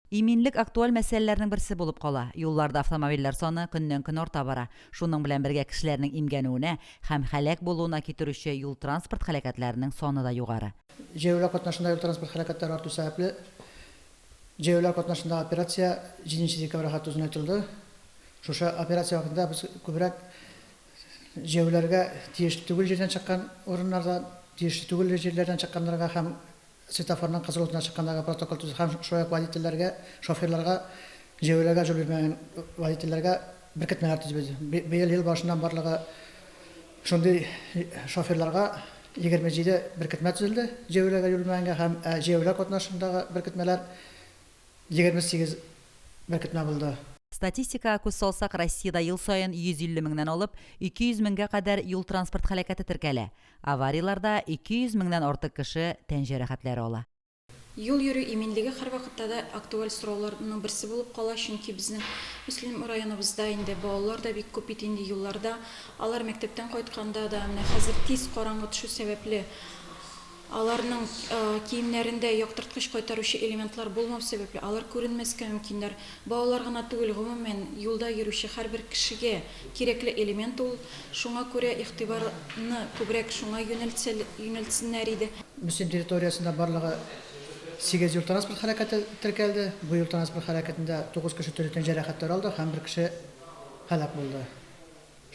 Иминлек актуаль мәсьәләләрнең берсе булып кала. Юлларда автомобильләр саны көннән-көн арта бара. Шуның белән бергә кешеләрнең имгәнүенә һәм һәлак булуына китерүче юл-транспорт һәлакәтләренең саны да югары. Җәяүләр катнашында юл-транспорт һәлакәтләре арту сәбәпле, җәяүләр катнашында операция җиденче декабрьгә хәтле озынайтылды. Шушы операция вакытында без күбрәк җәяүләргә тиешле түгел җирдән чыккан урыннарда тиешле түгел җирләрдән чыкканнарга һәм светофорның кызыл утына чыкканнарга протокол төзү һәм шулай ук водительләргә, шоферларга, җәяүләргә җул бирмәгән водительләргә беркетмәләр төзебез. Быел ел башыннан барлыгы шундый шоферларга егерме җиде беркетмә төзелде, җәяүләргә җул бирмәгәнгә һәм җәяүләр катнашындагы беркетмәләр, Егерме сигез беркетмә булды. Статистикага күз салсак, Россиядә ел саен 150 меңнән алып 200 меңгә кадәр юл-транспорт һәлакәте теркәлә. Аварияләрдә 200 меңнән артык кеше тән җәрәхәтләре ала. Юл йөрү иминлеге һәрвакытта да актуаль сорауларның берсе булып кала, чөнки безнең Мөслим районыбызда инде балалар да бик күп бит инде юлларда. Алар мәктәптән кайтканда да, менә хәзер тиз караңгы төшү сәбәпле, Аларның киемнәрендә яктырткыч кайтаручы элементлар булмау сәбәпле, алар күренмәскә мөмкиннәр. Балалар гына түгел, гомумән, юлда йөрүче һәрбер кешегә кирәкле элемент ул. Шуңа күрә игътибарны күбрәк шуңа юнәлтсеннәр иде. Мөслим территориясендә барлыгы сигез юл-транспорт һәлакәте теркәлде. Бу юл-транспорт һәлакәтендә тугыз кеше төрле тән җәрәхәтләр алды һәм бер кеше һәлак булды.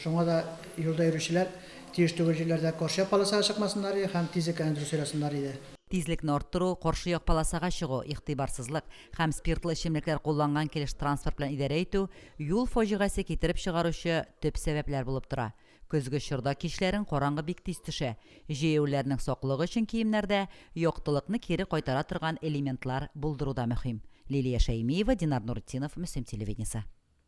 Шуңа да юлда йөрүчеләр тиеш түгел җирләрдә каршы як полосага чыкмасыннар иде һәм тизлеккәне дөрес сайласыннар иде. Тизлекне арттыру, каршы як полосага чыгу, игътибарсызлык һәм спиртлы эчемлекләр кулланган килеш транспорт белән идарә итү юл фаҗигасе китереп чыгаручы төп сәбәпләр булып тора. Көзге чорда кичләрен караңгы бик тиз төшә. Җәяүлеләрнең саклыгы өчен киемнәрдә яктылыкны кире кайтара торган элементлар булдыру да мөһим. Лилия Шәймиева, Динар Нуретдинов, Мөслим телевидениесе.